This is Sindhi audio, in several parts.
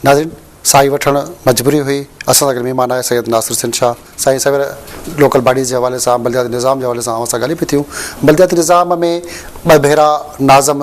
ناظرين ساهي وٺڻ مجبوري هئي اسان سان گڏ مهمان آهي سيد ناصر حسين شاهه سائين سوير لوڪل باڊيز جي حوالي سان بلدياتي نظام جي حوالي سان اوهان سان ڳالهيون پيون ٿيون بلدياتي نظام ۾ ٻه ڀيرا ناظم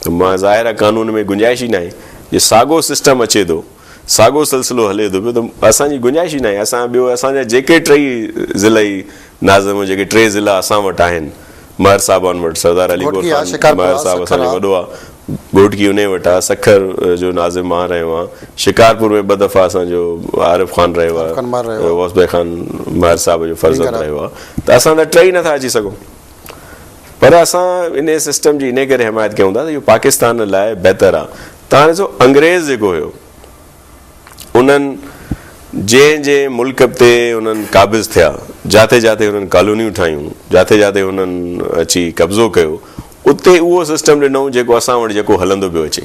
ته مان ظاهر آهي قانون ۾ گنجائش ئي ناهي جي ساڳو سسٽم اچي ٿو ساڳو سلسلو هلي ٿو پيو ته اسان جي گنجائش ئي ناهي اسان ٻيو اسان جا جيڪي ٽئي ضلعي ناظم جيڪي ٽي ضلعا اسان وٽ آهن مهر صاحبان وٽ سردار علي گوهر خان مهر صاحب اسان جو وڏو آهي گهوٽڪي انهي وٽ آهي سکر جو ناظم مان رهيو آهيان شڪارپور ۾ ٻه دفعا اسان جو عارف خان رهيو آهي غوث بي خان مهر صاحب جو فرزند رهيو آهي ته اسان ته ٽئي نٿا اچي سگهون پر اسان انهيء سسٽم جي انهيء ڪري حمايت ڪيون ٿا ته اهو پاڪستان لاء بهتر آ. تان ڏسو انگريز جيڪو هيو انهن جنهن جنهن ملڪ تي انهن قابض ٿيا، جاٿي جاٿي انهن ڪالونيون ٺاهيون، جاٿي جاٿي انهن اچي قبضو ڪيو، اتي اهو سسٽم ڏنائون جيڪو اسان وٽ جيڪو هلندو پيو اچي.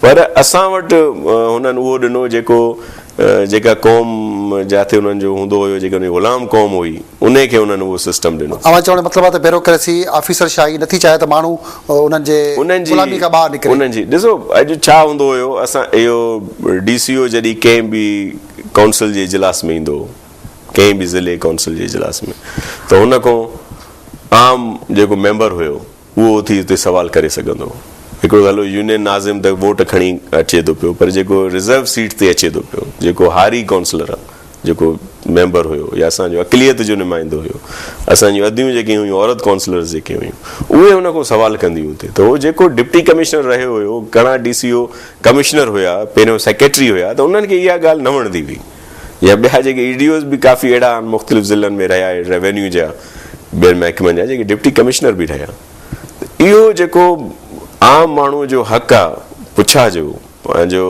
پر اسان وٽ هنن اهو ڏنو جيڪو جيڪا قوم جاٿي هنن جو هوندو هيو جيڪي هنن جي غلام قوم هئي انهي کي هنن اهو سسٽم ڏنو. اوهان چوڻ جو مطلب آهي ته بيروڪريسي، آفيسر شاهي، نٿي چاهي ته ماڻهو انهن جي غلامي کان ٻاهر نڪري. انهن جي ڏسو اڄ ڇا هوندو هيو اسان اهو ڊي سي او جڏهن ڪنهن به ڪائونسل جي اجلاس ۾ ايندو هو ڪنهن به ضلعي ڪائونسل جي اجلاس ۾ ته هن کان عام جيڪو ميمبر هيو. اهو اٿي اتي سوال ڪري سگهندو هو. هڪڙو ته هلو يونين ناظم ته ووٽ کڻي اچي ٿو پيو پر جيڪو رزرو سيٽ تي اچي ٿو پيو، جيڪو هاري ڪونسلر، جيڪو ميمبر هيو يا اسان جو اقليت جو نمائندو هيو، اسان جون اديون جيڪي هيون عورت ڪونسلرز جيڪي هيون اهي ان کان سوال ڪنديون اتي ته هو جيڪو ڊپٽي ڪمشنر رهيو هيو، گهڻا ڊي سي او ڪمشنر هيا، پهريون سيڪريٽري هيا ته انهن کي اها ڳالهه نه وڻندي هئي. يا ٻيا جيڪي اي ڊي اوز به ڪافي اهڙا آهن مختلف ضلعن ۾ رهيا روينيو جا ٻين محڪمن جا جيڪي ڊپٽي ڪمشنر به رهيا اهو جيڪو عام ماڻهو جو حق آ پڇا جو پنهنجو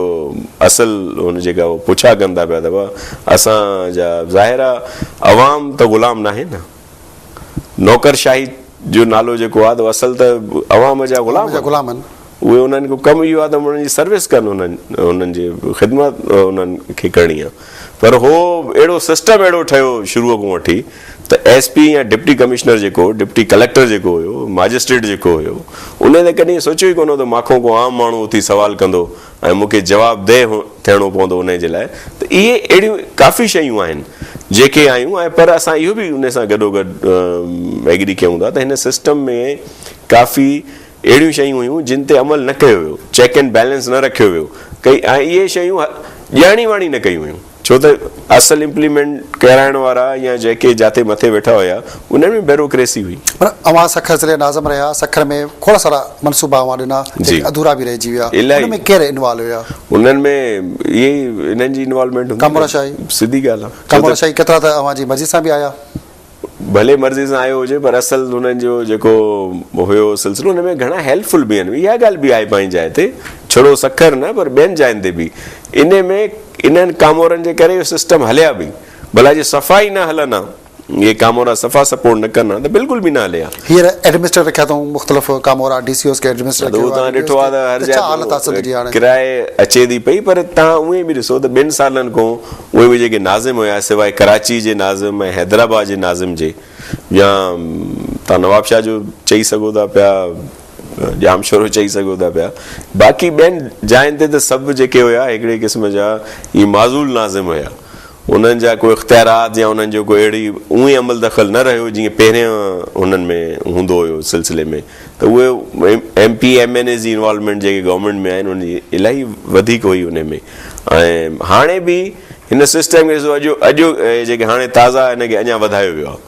اصل هن جيڪا پڇا ڪن ٿا پيا ته اسان جا ظاهر آ عوام ته غلام ناهي نه نوڪر شاهي جو نالو جيڪو آهي ته اصل ته عوام جا غلام آهن اهي انهن جو ڪم اهو آهي ته انهن جي سروس ڪن انهن انهن جي خدمت انهن کي ڪرڻي آهي پر هو اهڙو سسٽم اهڙو ٺهيو شروع کان وٺي ته ايس پي يا ڊپٽي ڪمشنر جيڪو ڊپٽي ڪليڪٽر جيڪو هيو ماجسٽريٽ جيڪو هيو انهن ته ڪڏهن سوچيو ئي ڪونه هو ته ماکو ڪو عام ماڻهو اٿي سوال ڪندو ۽ مون کي جوابده ٿيڻو پوندو انهي جي لاء ته اهي اهڙيون ڪافي شيون آهن جيڪي آيون ۽ پر اسان اهو به انهي سان گڏوگڏ ايگري ڪيون ٿا ته هن سسٽم ۾ ڪافي اهڙيون شيون هيون جن تي عمل نه ڪيو ويو چيڪ اينڊ بيلنس نه رکيو ويو ڪئي ۽ اهي شيون ڄاڻي واڻي نه ڪيون ويون. ڇو ته اصل امپليمينٽ ڪرائڻ وارا يا جيڪي جاتي مٿي ويٺا هيا انهن ۾ بيروڪريسي هئي. پر اوهان سکر ضلعي ناظم رهيا، سکر ۾ کوڙ سارا منصوبا اوهان ڏنا جيڪي اڌورا به رهجي ويا، انهن ۾ ڪير انوالو هيا؟ انهن ۾ اهي ئي انهن جي انوالومينٽ هوندي. ڪامورا شاهي. سڌي ڳالهه آهي. ڪامورا شاهي ڪيترا ته اوهان جي مرضي سان به آيا. ڀلي مرضي سان آيو هجي پر اصل هنن جو جيڪو هيو سلسلو ان ۾ گهڻا هيلپ فل به آهن اها ڳالهه به آهي پنهنجي جاء تي ڇڙو سکر نه پر ٻين جاين تي به ان ۾ انهن ڪامورن جي ڪري اهو سسٽم هليا به ڀلا جي صفا ئي نه هلن ها اهي ڪامورا صفا سپورٽ نه ڪن ها ته بلڪل به نه هلي ها. هينئر ايڊمنسٽريٽر رکيا اٿئون مختلف ڪامورا ڊي سي اوز کي ايڊمنسٽريٽر ڪيو آهي ڊي سي اوز کي ته ڇا حالت آهي سنڌ جي هاڻي. ڪراء اچي ٿي پئي پر تهان اوئين به ڏسو ته ٻن سالن کون اهي به جيڪي ناظم هيا سواء ڪراچي جي ناظم ۽ حيدرآباد جي ناظم جي يا تهان نوابشاهه جو چئي سگهو ٿا پيا ڄامشورو چئي سگهو ٿا پيا، باقي ٻين جاين تي ته سڀ جيڪي هيا هڪڙي قسم جا ئي معزول ناظم هيا، انهن جا ڪو اختيارات يا انهن جو ڪو اهڙي اونهي عمل دخل نه رهيو جيئن پهرين هنن ۾ هوندو هيو سلسلي ۾ ته اهي M P M N A جي انوالومينٽ جيڪي گورنمينٽ ۾ آهن انهن جي الاهي وڌيڪ هئي انهي ۾ ۽ هاڻي به هن سسٽم کي اڄ جيڪي هاڻي تازا هن کي اڃا وڌايو ويو آهي.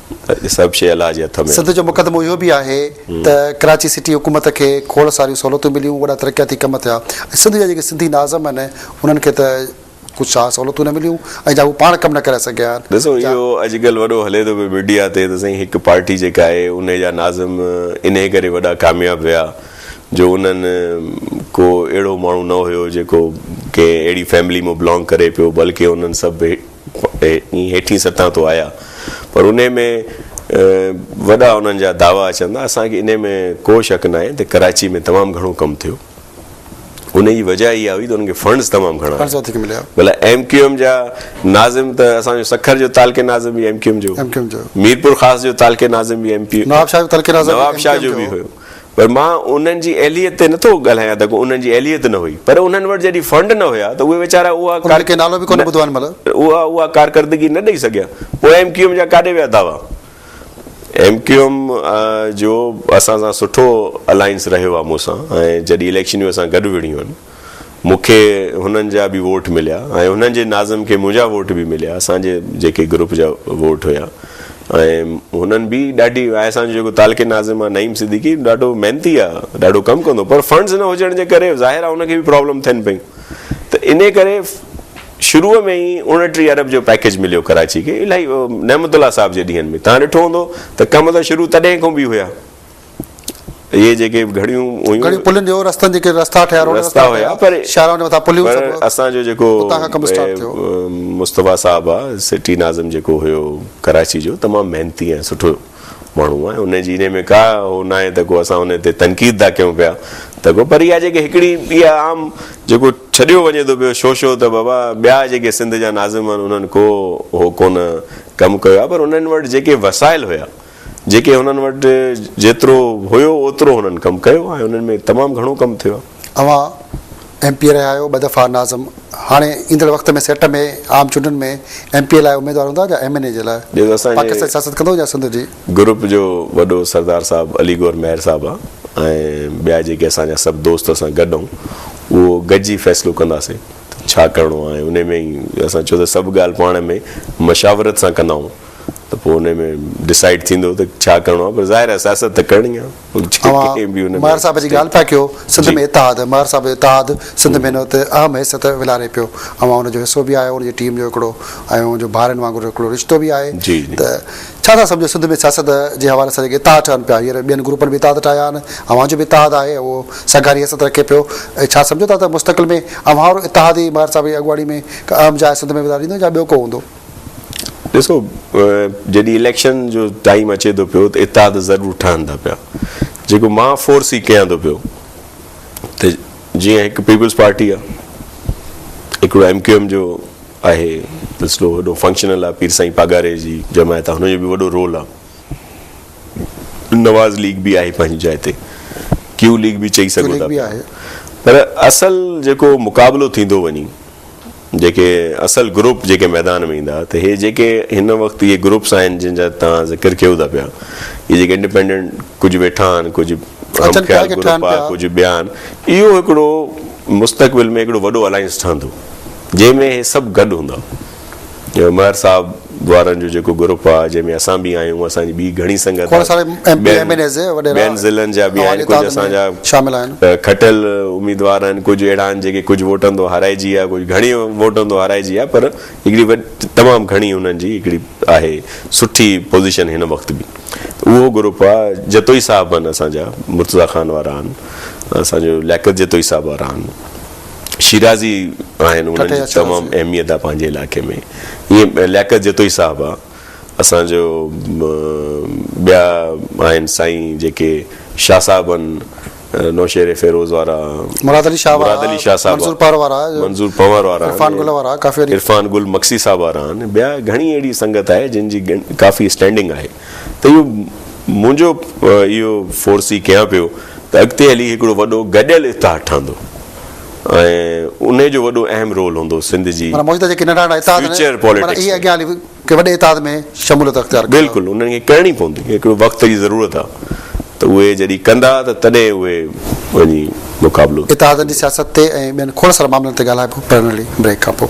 سڀ شيء الله جي هٿ ۾. سنڌ جو مقدمو اهو به آهي ته ڪراچي سٽي حڪومت کي کوڙ ساريون سهولتون مليون، وڏا ترقياتي ڪم ٿيا ۽ سنڌ جا جيڪي سنڌي ناظم آهن انهن کي ته ڪجهه شاهه سهولتون نه مليون ۽ جا هو پاڻ ڪم نه ڪرائي سگهيا آهن. ڏسو اهو اڄڪلهه وڏو هلي ٿو پيو ميڊيا تي ته سائين هڪ پارٽي جيڪا آهي انهي جا ناظم انهي ڪري وڏا ڪامياب ويا جو انهن ڪو اهڙو ماڻهو نه هيو جيڪو ڪنهن اهڙي فيملي مان بلانگ ڪري پيو بلڪه انهن سڀ هيٺين سطح تو آيا پر انهي ۾ وڏا انهن جا دعوا اچن ٿا اسان کي انهي ۾ ڪو شڪ ناهي ته ڪراچي ۾ تمام گهڻو ڪم ٿيو انهي جي وجه اها هئي ته انهن کي فنڊز تمام گهڻا مليا ڀلا ايم ڪيو ايم جا ناظم ته اسان جو سکر جو تعلقي ناظم به ايم ڪيو ايم جو ميرپور خاص جو تعلقي ناظم به ايم پي نواب شاهه جو تعلقي ناظم نواب شاهه جو به هيو پر مان انهن جي اهليت تي نه ٿو ڳالهايان ته ڪو انهن جي اهليت نه هئي پر انهن وٽ جڏهن فنڊ نه هيا ته اهي ويچارا اها انهن کي نالو به ڪونه ٻڌو آهي ان مهل. اها اها ڪارڪردگي نه ڏئي سگهيا پوء ايم ڪيو ايم جا ڪاڏي ويا دعوا؟ ايم ڪيو ايم جو اسان سان سٺو الائنس رهيو آهي مون سان ۽ جڏهن اليڪشنيون اسان گڏ وڙهيون آهن. مون کي هنن جا به ووٽ مليا ۽ هنن جي ناظم کي منهنجا ووٽ به مليا اسان جي جيڪي گروپ جا ووٽ هيا ۽ هنن به ڏاڍي آء اسان جو جيڪو تعلقي ناظم آ نعيم صديقي ڏاڍو محنتي آ ڏاڍو ڪم ڪندو پر فنڊز نه هجڻ جي ڪري ظاهر آ ان کي به پرابلم ٿين پيون ته انهي ڪري شروع ۾ ئي اوڻٽيهه ارب جو پيڪيج مليو ڪراچي کي الائي نعمت الله صاحب جي ڏينهن ۾ تهان ڏٺو هوندو ته ڪم ته شروع تڏهن کون به هيا اهي جيڪي گهڙيون هيون. گهڙيون پلين جو رستن جيڪي رستا ٺهيا روڊ رستا ٺهيا هيا پر شاهراهن جي مٿان پليون پر سڀ اسان جو جيڪو اتان کان ڪم اسٽارٽ ٿيو. مصطفيٰ صاحب آ سٽي ناظم جيڪو هيو ڪراچي جو تمام محنتي ۽ سٺو ماڻهو آ ان جي انهي ۾ ڪا هو ناهي ته ڪو اسان انهي تي تنقيد ٿا ڪيون پيا ته ڪو پر اها جيڪي هڪڙي اها عام جيڪو ڇڏيو وڃي ٿو پيو شو شو ته بابا ٻيا جيڪي سنڌ جا ناظم آهن انهن ڪو هو ڪونه ڪم ڪيو آ پر انهن وٽ جيڪي وسائل هيا جيڪي هنن وٽ جيترو هيو اوترو هنن ڪم ڪيو ۽ انهن ۾ تمام گهڻو ڪم ٿيو آهي. اوهان ايم پي اي رهيا آهيو ٻه دفعا ناظم هاڻي ايندڙ وقت ۾ سيٽ ۾ عام چونڊن ۾ ايم پي اي لاء اميدوار هوندا جا ايم اين اي جي لاء پاڪستان جي سياست ڪندو جا سنڌ جي گروپ جو وڏو سردار صاحب علي گور مهر صاحب آ ۽ ٻيا جيڪي اسان جا سڀ دوست اسان گڏ آهون اهو گڏجي فيصلو ڪنداسين ته ڇا ڪرڻو آهي انهي ۾ ئي اسان ڇو ته سڀ ڳالهه پاڻ ۾ مشاورت سان ڪندا آهون. ته پوء انهي ۾ ڊسائيڊ ٿيندو ته ڇا ڪرڻو آهي پر ظاهر آهي سياست ته ڪرڻي آهي اوهان ماهر صاحب جي ڳالهه پيا ڪيو سنڌ ۾ اتحاد ماهر صاحب جو اتحاد سنڌ ۾ هت اهم حيثيت ولهاري پيو اوهان ان جو حصو به آهيو ان جي ٽيم جو هڪڙو ۽ اوهان جو ڀائرن وانگر هڪڙو رشتو به آهي ته ڇا ٿا سمجهو سنڌ ۾ سياست جي حوالي سان جيڪي اتحاد ٺهن پيا هينئر ٻين گروپن به اتحاد ٺاهيا آهن اوهان جو به اتحاد آهي اهو سگهاري حيثيت رکي پيو ۽ ڇا سمجهو ٿا ته مستقل ۾ اوهان وارو اتحاد ئي ماهر صاحب جي اڳواڻي ۾ ڪا اهم جاء سنڌ ۾ ولهاريندو يا ٻيو ڪو هوندو ڏسو جڏهن اليڪشن جو ٽائيم اچي ٿو پيو ته اتحاد ضرور ٺهن ٿا پيا جيڪو مان فورس هي ڪيان ٿو پيو ته جيئن هڪ پيپلز پارٽي آهي هڪڙو ايم ڪيو ايم جو آهي سلسلو وڏو فنڪشنل آهي پير سائين پاڳاري جي جماعت هن جو به وڏو رول آهي نواز ليگ به آهي پنهنجي جاء تي ڪيو ليگ به چئي سگهو ٿا پر اصل جيڪو مقابلو ٿيندو وڃي جيڪي اصل گروپ جيڪي ميدان ۾ ايندا ته هي جيڪي هن وقت اهي گروپس آهن جن جا توهان ذڪر ڪيو ٿا پيا اهي جيڪي انڊيپينڊنٽ ڪجهه ويٺا آهن ڪجهه هم خيال گروپ آهن ڪجهه ٻيا آهن اهو هڪڙو مستقبل ۾ هڪڙو وڏو الائنس ٺهندو جنهن ۾ هي سڀ گڏ هوندا. جو مير صاحب وارن جو جيڪو گروپ آ جنهن ۾ اسان به آهيون اسان جي ٻي گهڻي سنگت آ ٻين ضلعن جا به آهن ڪجهه اسان جا کٽيل اميدوار آهن ڪجهه اهڙا آهن جيڪي ڪجهه ووٽن تون هارائجي ويا ڪجهه گهڻي ووٽن تون هارائجي ويا پر هڪڙي تمام گهڻي انهن جي هڪڙي آهي سٺي پوزيشن هن وقت به اهو گروپ آ جتوئي صاحب آهن اسان جا مرتضيٰ خان وارا آهن اسان جو لياقت جتوئي صاحب وارا آهن شيرازي آهن انهن جي تمام اهميت آ پنهنجي علائقي ۾ ائين لياقت جتوئي صاحب آ اسان جو ٻيا آهن سائين جيڪي شاهه صاحب آهن نوشهري فيروز وارا مراد علي شاهه وارا منظور پنهور وارا منظور پنهور وارا عرفان گل وارا ڪافي عرفان گل مگسي صاحب وارا آهن ٻيا گهڻي اهڙي سنگت آهي جن جي ڪافي اسٽينڊنگ آهي ته اهو منهنجو اهو فورسي ڪيان پيو ته اڳتي هلي هڪڙو وڏو گڏيل اتحاد ٺهندو ۽ ان جو وڏو اهم رول هوندو سنڌ جي معنيٰ موجوده جيڪي ننڍا ننڍا اتحاد آهن معنيٰ اهي اڳيان هلي ڪنهن وڏي اتحاد ۾ شموليت اختيار ڪندا. بلڪل انهن کي ڪرڻي پوندي هڪڙو وقت جي ضرورت آهي ته اهي جڏهن ڪندا ته تڏهن اهي وڃي مقابلو. اتحادن جي سياست تي ۽ ٻين کوڙ سارن معاملن تي ڳالهائبو پرنڙي بريڪ کانپوء.